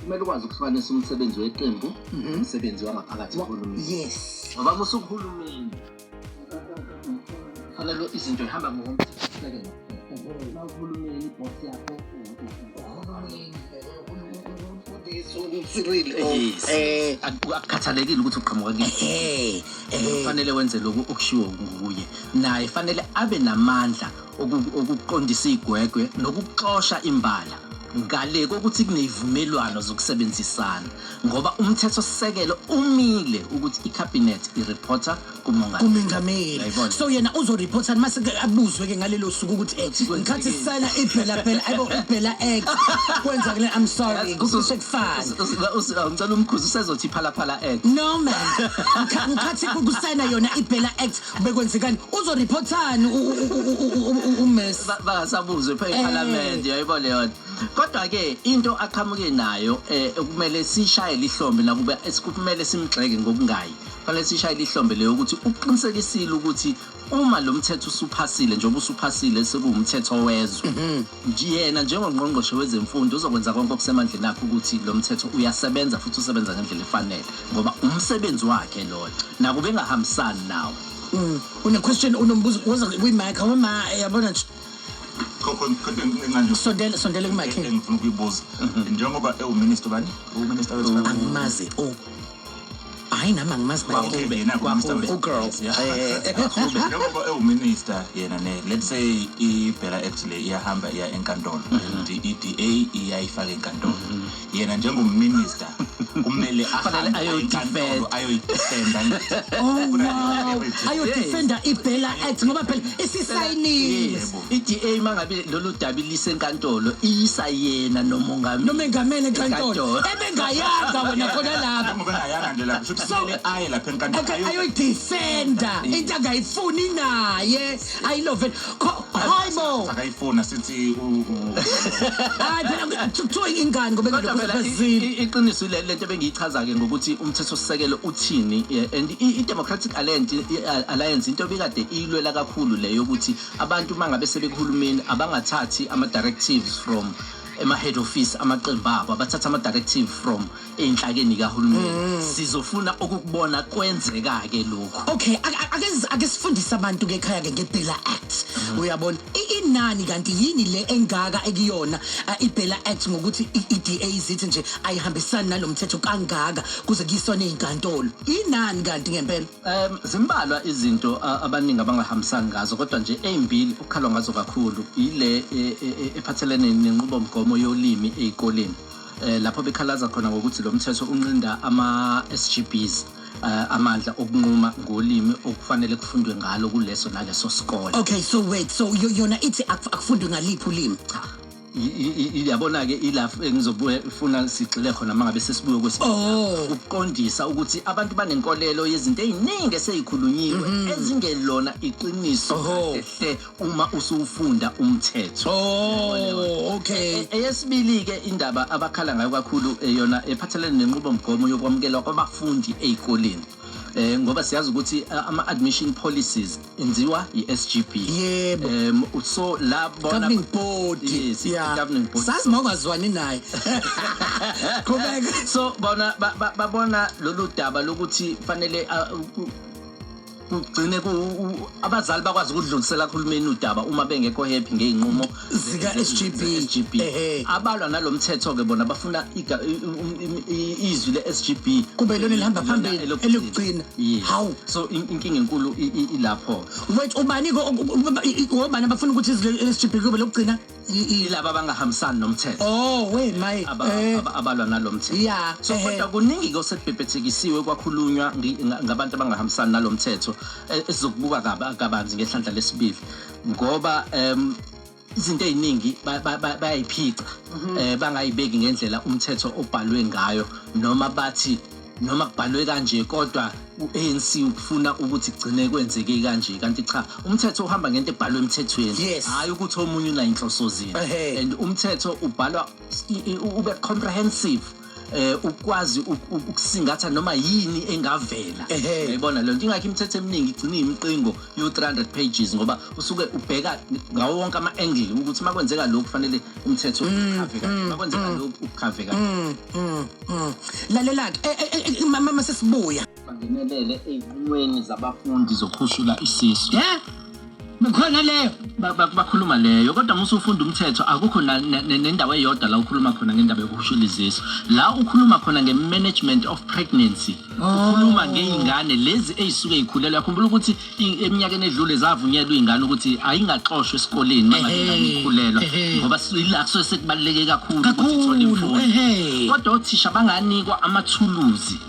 kumele ukwazi ukuhlukanisa umsebenzi weqembu mhm. umsebenzi wangaphakathi kuhulumeni yes ngoba musukuhulumeni fanele izinto ihamba ngokomthethosisekelo uma uhulumeni ibhosi yakho eh, akukhathalekile ukuthi uqhamuka kufanele wenze lokhu okushiwo nguye naye fanele abe namandla ukuqondisa igwegwe nokuxosha imbala ngale kokuthi kunezivumelwano zokusebenzisana ngoba umthetho sisekelo umile ukuthi icabinet ireporter kumongameli kumengameli so yena uzoreporta mase abuzwe ke ngalelo suku ukuthi eh, ngikhathi sisayina ibhela bhela ayibo ibhela act kwenza kule i'm sorry kusekufana ngicela umkhuzi usezothi phala phala act no man ngikhathi kusayina yona ibhela act bekwenzekani uzoriphothani umesi bangasabuzwe pha ephalamende eh. yayibona leyo nto kodwa-ke into aqhamuke nayo um eh, kumele sishayele ihlombe nakuba kumele simgxeke ngokungayi kufanele sishayele ihlombe leyo ukuthi uqinisekisile ukuthi uma lo mthetho usuphasile njengoba usuphasile sekuwumthetho wezwe mhm. Yena njengongqongqoshe wezemfundo uzokwenza konke okusemandleni akhe ukuthi lo mthetho uyasebenza futhi usebenza ngendlela efanele ngoba umsebenzi wakhe loyo nakuba engahambisani nawo mm. une-question unombuzo woza kuyimike awema yabona nje sondele sondele kumakhe engifuna ukuyibuza mhm. njengoba ewuminister bani uminister wezimali angimazi o oh. hayi nami angimazi Mawube yena kuMr. ugirl Yeah. Eh, Mawube, njengoba ewuminister yena ne let's say ibhela act le iyahamba iya enkantolo and i-DA iyayifaka enkantolo yena njengominister kumele Kufanele ahambe ayoyidefend. enkantolo ayoyidefenda Oh, wow. ayodefenda ibhela act ngoba phela isisayinile Yebo. I-DA mangabe lolu daba ilise enkantolo iyisa yena nomongameli. Nomengameli enkantolo. Ebengayanga wena khona lapho. Ngoba ayanga nje lapho futhi kumele aye lapha enkantolo. Okay, ayoyidefenda into angayifuni naye. Ayilove. Hayibo. Akayifuna sithi u Hayi phela kuthiwa ingane ngoba Kodwa phela i- ngizozazile. i- iqiniso ile lento bengiyichaza ke ngokuthi umthetho sisekelo uthini eh, and i- i-democratic alliance i- alliance into ebikade iyilwela kakhulu le yokuthi Abantu uma ngabe sebekuhulumeni abangathathi ama-directives from ema-head office amaqembu abo abathatha ama-directive from ey'nhlakeni kahulumeni mm. sizofuna ukukubona kwenzeka-ke lokhu okay ake sifundise abantu-ke ekhaya-ke ngebhela act mm. uyabona inani kanti yini le engaka ekuyona ibhela act ngokuthi i-da zithi nje ayihambisani nalo mthetho kangaka kuze kuyisona ey'nkantolo inani kanti ngempela Um zimbalwa izinto a- abaningi abangahambisani ngazo kodwa nje ezimbili okukhalwa ngazo kakhulu yile e- e- e- ephathelene nenqubomgomo yolimi ezikoleni eh lapho bekhalaza khona ngokuthi lo mthetho unqinda ama SGBs eh, amandla okunquma ngolimi okufanele kufundwe ngalo kuleso naleso sikole okay so wait so yo- yona ithi akuf- akufundwe ngaliphi ulimi cha yabona-ke ilapho engizofuna sigxile khona uma ngabe sesibuye kwesibili ukuqondisa ukuthi abantu banenkolelo yezinto ey'ningi eseyikhulunyiwe ezingelona iqiniso kahle uma usuwufunda umthetho okay eyesibili-ke indaba abakhala ngayo kakhulu yona ephathelene nenqubomgomo yokwamukelwa kwabafundi ey'koleni eh ngoba siyazi ukuthi eh, ama admission policies enziwa iSGB yebo um so la bona governing board yes yeah. governing board sazi mawungazwani naye qhubeka so bona babona lolu daba lokuthi fanele ah, kugcine abazali bakwazi ukudlulisela kuhulumeni udaba uma bengekho happy ngeyinqumo zika SGB SGB ehe abalwa nalomthetho ke bona bafuna iga- i- i- i- i- izwi le SGB Kube lona elihamba Lona phambili, elokugcina. elokugcina. Yes. Hawu. so in- inkinga enkulu i- i- ilapho wait ubani ko- u- u- i- i- obani abafuna ukuthi izwi le SGB kube lokugcina I- i- ilaba abangahambisani nomthetho oh we my aba- eh aba- abalwa nalomthetho Yeah, so ehe. kodwa kuningi ke osekubhebhethekisiwe kwakhulunywa ngi- nga- ngabantu abangahambisani nalomthetho eh, esizokubuka kaba- kabanzi ngehlandla lesibili ngoba um izinto eziningi bayayiphica mhm. eh bangayibeki ngendlela umthetho obhalwe ngayo noma bathi noma kubhalwe kanje kodwa u-ANC ufuna ukuthi gcine kwenzeke kanje kanti cha umthetho uhamba ngento ebhalwe emthethweni hayi ukuthi omunye unayinhloso zini and umthetho ubhalwa ube comprehensive eh ukwazi uk- uk- ukusingatha noma yini engavela Ehhe. uyayibona lento ingakho imithetho eminingi igcina imiqingo yo 300 pages ngoba usuke ubheka ngawo wonke ama angle ukuthi makwenzeka lokhu kufanele umthetho ukhave kanje makwenzeka lokhu ukhave kanje Mm, mm, mm. lalela-ke Eh, eh, eh, mama sesibuya bangenelele ezinqumweni zabafundi zokhushula isisu ye bekhona leyo bakhuluma leyo kodwa musa ufunda umthetho akukho nendawo eyodwa la ukhuluma khona ngendaba yokuhushula izisu la ukhuluma khona nge-management of pregnancy ukhuluma oh. ngey'ngane lezi ey'suke y'khulelwe yakhumbula ukuthi eminyakeni edlule zavunyelwa iy'ngane ukuthi ayingaxoshwa esikoleni mangaingane ikhulelwa ngoba ila kusuke sekubaluleke kakhulu ukuthi ithole imfundo kodwa othisha banganikwa amathuluzi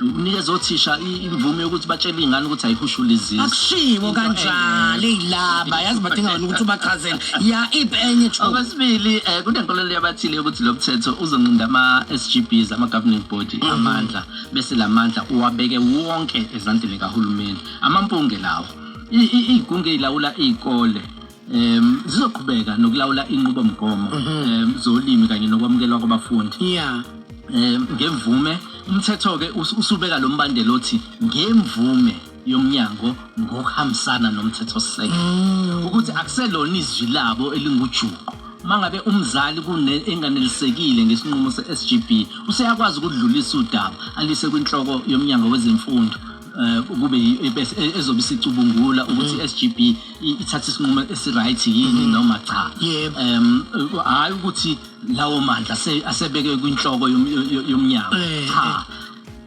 Unikeza othisha i- imvume yokuthi batshele iy'ngane ukuthi ayihushule izisu. akushiwo Into kanjalo enye. eyilaba yazi badinga wena ukuthi ubachazele ya ip enye chu Okwesibili eh kunenkolelo yabathile yokuthi lo mthetho uzonqinda ama-SGBs ama-governing body amandla bese la mandla uwabeke wonke ezandleni kahulumeni amampunge lawo I- i- iy'gungu ey'lawula iy'kole um zizoqhubeka nokulawula inqubomgomo um zolimi kanye nokwamukelwa kwabafundi ya um ngemvume umthetho-ke us- usubeka lo mbandela othi ngemvume yomnyango ngokuhambisana nomthethosisekelo ukuthi akuselona izwi labo elingujuqu uma ngabe umzali kune- enganelisekile ngesinqumo se-sgb useyakwazi ukudlulisa udaba alise kwinhloko yomnyango wezemfundo eh, kube e-, ezobe sicubungula ukuthi mm. SGB ithatha isinqumo esiright yini mm. noma cha um hayi ukuthi lawo mandla asebeke kwinhloko yomnyango eh, cha eh.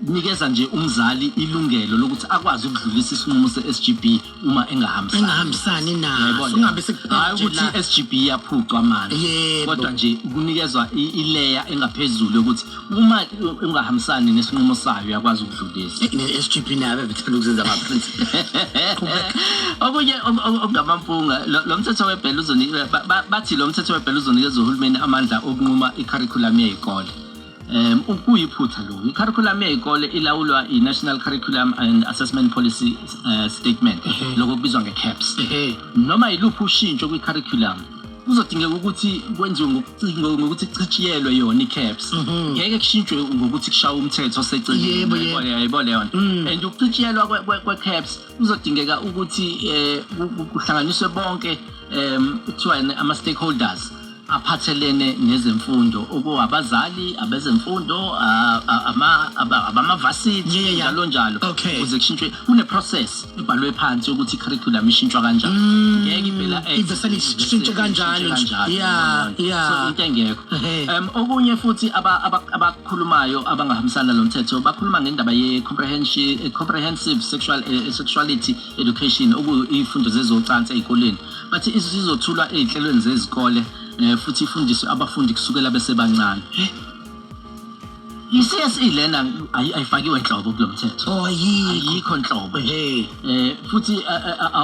nikeza nje umzali ilungelo lokuthi akwazi ukudlulisa isinqumo se-SGB uma engahambisani engahambisani naso Yayibona? ungabe hhayi sekubhajela ukuthi i-sgb iyaphucwa manje Yebo. kodwa nje kunikezwa i- ileya engaphezulu yokuthi uma i- ungahambisani nesinqumo sayo uyakwazi ukudlulisa ne-sgp nayo bebethanda ukuzenza amaprinsipe okunye om- om- okungamampunga lo lo mthetho webhela uzoni- ba- ba- bathi lo mthetho webhela uzonikeza uhulumeni amandla okunquma ikharikhulamu yey'kole Um, kuyiphutha lokhu i-curriculum yey'kole ilawulwa i-national curriculum and assessment policy uh, statement lokho kubizwa nge-caps noma yiluphi ushintsho kwi-curriculum kuzodingeka ukuthi kwenziwe ngokuthi kuchitshiyelwe yona i-caps mhm. ngeke kushintshwe ngokuthi kushawe umthetho oseceleni yayibona yona mm. and ukuchitshiyelwa kwe-caps kuzodingeka ukuthi um kuhlanganiswe bonke um kuthiwa ama-stakeholders aphathelene nezemfundo okuwabazali abezemfundo abamavasiti njalo njalo ukuze kushintshwe kune-process ebhalwe phansi ukuthi i-curriculum ishintshwa kanjani mm, ngeke ivela ishintshe kanjalo ya into engekho um okunye futhi khulumayo abangahambisani nalo mthetho bakhuluma ngendaba ye-comprehensive eh, sexual, eh, eh, sexuality education okuyiy'fundo zezocansi ey'koleni bathi isizothulwa ey'nhlelweni zezikole um futhi ifundiswe abafundi kusukela besebancane i-CSE lena ayifakiwe nhlobo kulo mthetho oh, ayikho nhlobo um futhi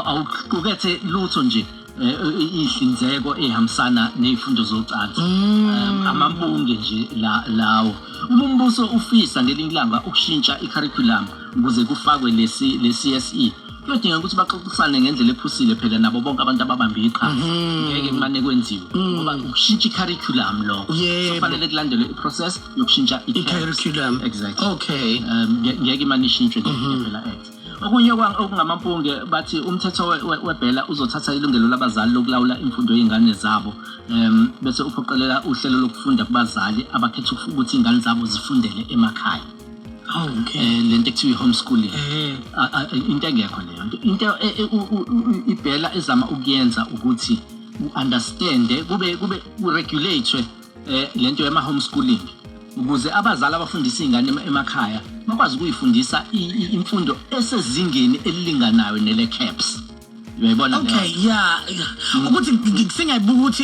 awuqukethe lutho nje Eh, eh, inhlinzeko ehambisana nezifundo zocansi mm. amabunge nje lawo uma umbuso ufisa ngelinye ilanga ukushintsha i-curriculum ukuze kufakwe lesi le-CSE kuyodingeka ukuthi baxoxisane ngendlela ephusile phela nabo bonke abantu ababambe iqhaza mhm. ngeke kumane kwenziwe mhm. ngoba ukushintsha i-curriculum lokho kufanele kulandelwe i-process yokushintsha i-curriculum exactly okay um, ngeke imane ishintshwe mhm. phela act Okunye okungamampunge bathi umthetho webhela uzothatha ilungelo labazali lokulawula imfundo yezingane zabo um bese uphoqelela uhlelo lokufunda kubazali abakhetha ukuthi izingane zabo zifundele emakhaya Oh, okay. Eh, le nto ekuthiwa i-homeschooling eh. into engekho leyo nto into e, e, ibhela ezama ukuyenza ukuthi u-understande kube kube kuregulate um lento yama-homeschooling ukuze abazali abafundisa iy'ngane emakhaya bakwazi ukuyifundisa imfundo esezingeni elilinganayo nele-caps uyayibona okay ya ukuthi sengiyayibuka ukuthi